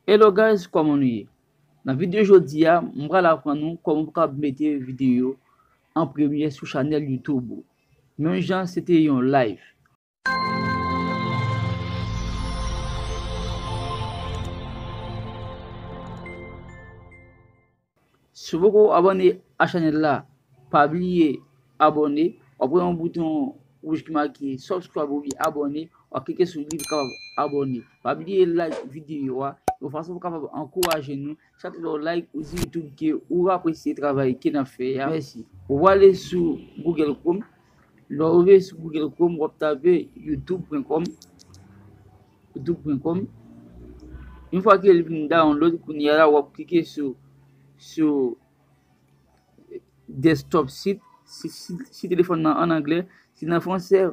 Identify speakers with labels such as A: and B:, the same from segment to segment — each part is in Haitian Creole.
A: Hello guys kòman nou ye nan video jodi a m pral aprann nou kòman pou kab mete video an premye sou chanèl YouTube ou menm jan se te yon live. Si w poko abòne a chanèl la pa bliye abòne wap wè yon bouton wouj ki make subscribe oubyen abòne wap klike sou li pou kapab abòne pa bliye like videyo a yon fason pou kapab ankouraje nou chak lè w like ou di youtube ke ou apresye travay ke nap fè a mèsi ou prale sou google chrome lè w rive sou google chrome wap tape youtube pwen kòm. Doub pwen kòm Yon fwa ke li vin download kounye a la wap klike sou sou desktop sit si telefòn nan an anglè si nan fransè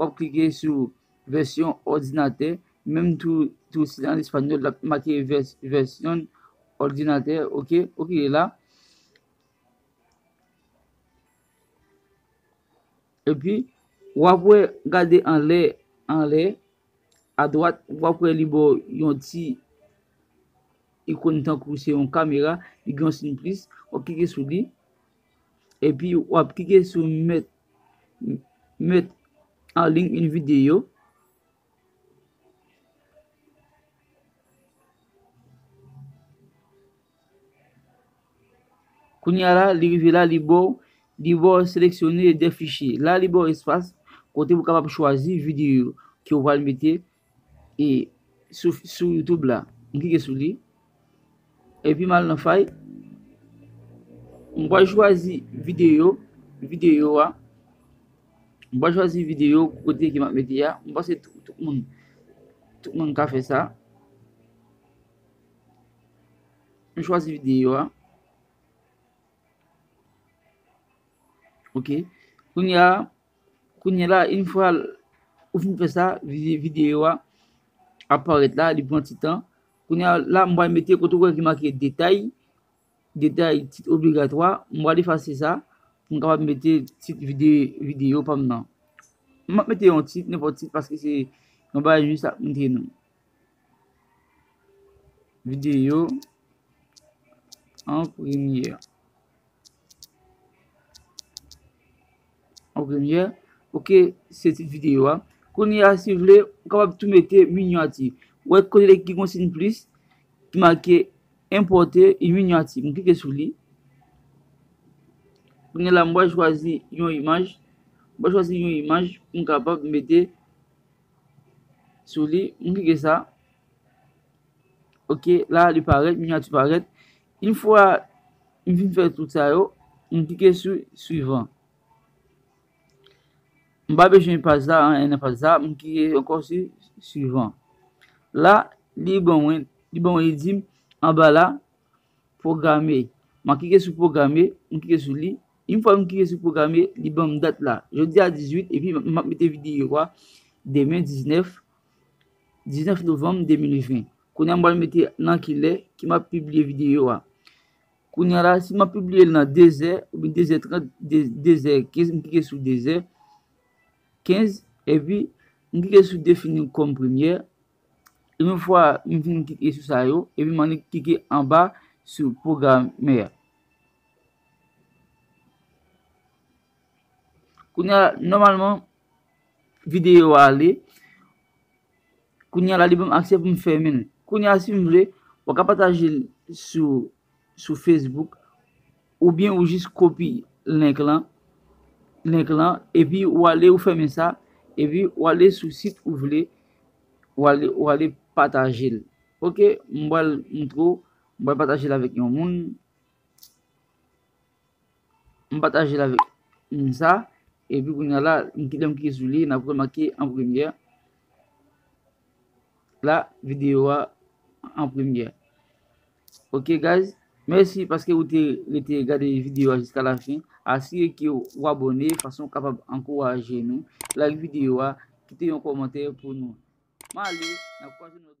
A: wap klike sou vèsyon òdinatè menm tou tou si nan espanyòl lap make vèsyon òdinatè ok ou klike la epi wap wè gade anlè anlè A dwat, wap wè li bò yon ti ikon tankou se yon kamera, li gen yon siy plis, wap klike sou li, epi wap klike sou met met an liy yon videyo. Kounya la li rive la li baw li baw seleksyone 2 fichye la li baw espas kote ou kapab chwazi videyo ke ou pral mete e sou youtube la m klike sou li epi mal nan fay m pral chwazi videyo videyo a m pral chwazi videyo kote ke map mete a m panse tout moun tout moun ka fè sa. M chwazi videyo a. Ok. Kounye a, kounye la, in fwa ou fin fè sa, videyo a ap parèt la, li pran ti tan. Kounye a, la m pral mete kote ou wè ki make detay, detay tit obligatwa. M pral efase sa, m kapab mete tit videyo pa m nan. M ap mete yon tit, nenpòt tit, paske se yon bagay jis ap montre nou. Videyo an premyè. An premyè. Ok, se ti videyo a. Kounye a si vle, ou kapab tou mete minyati. Ou wè kote ki gen yon siy plis ki make enpòte yon minyati. M klike sou li. Kounye la m wè chwazi yon imaj. M wè chwazi yon imaj pou m kapab mete sou li m klike sa ok la li parèt minyati parèt yn fwa m fin fè tout sa yo m klike sou swivan m pa bezwen paj la anyen nan paj la m klike ankò sou swivan la li ban mwen li di m anba la Pwograme, m a klike sou pwograme, m klike sou li, yn fwa m klike sou pwograme li banm dat la, jodi a 18 epi m ap mete videyo a demen 19 19 novanm 2020, kounye a m pral mete nan ki lè ke m ap pibliye videyo a, kounye a la si m ap pibliye l nan 2 zè oubyen 2 zè 30 2 zè 15 m klike sou 2 zè 15 epi m klike sou defini kòm premyè Yon fwa m fin klike sou sa yo, epi m annik klike anba sou pwogrammè a. Kounya nòmalman videyo a ale. Kounya la li banm aksè pou m fèmen l. Kounya si m vle, mwen ka pataje l sou sou Facebook oubyen ou jis kopi link lan link lan epi ou ale ou fèmen sa epi ou ale sou sit ou vle ou ale ou ale patajel ok m pral montre w m pral patajel avèk yon moun m patajel avèk moun sa epi kounya la lè m klike sou li nap remake an premyè la videyo a an premyè. Ok guys Mèsi paske ou te rete gade videyo a jiska la fen Asire ke ou abòne fason ou kapab ankouraje nou Like videyo a Kite yon kòmantè pou nou M ale N ap kwaze nan lòt videyo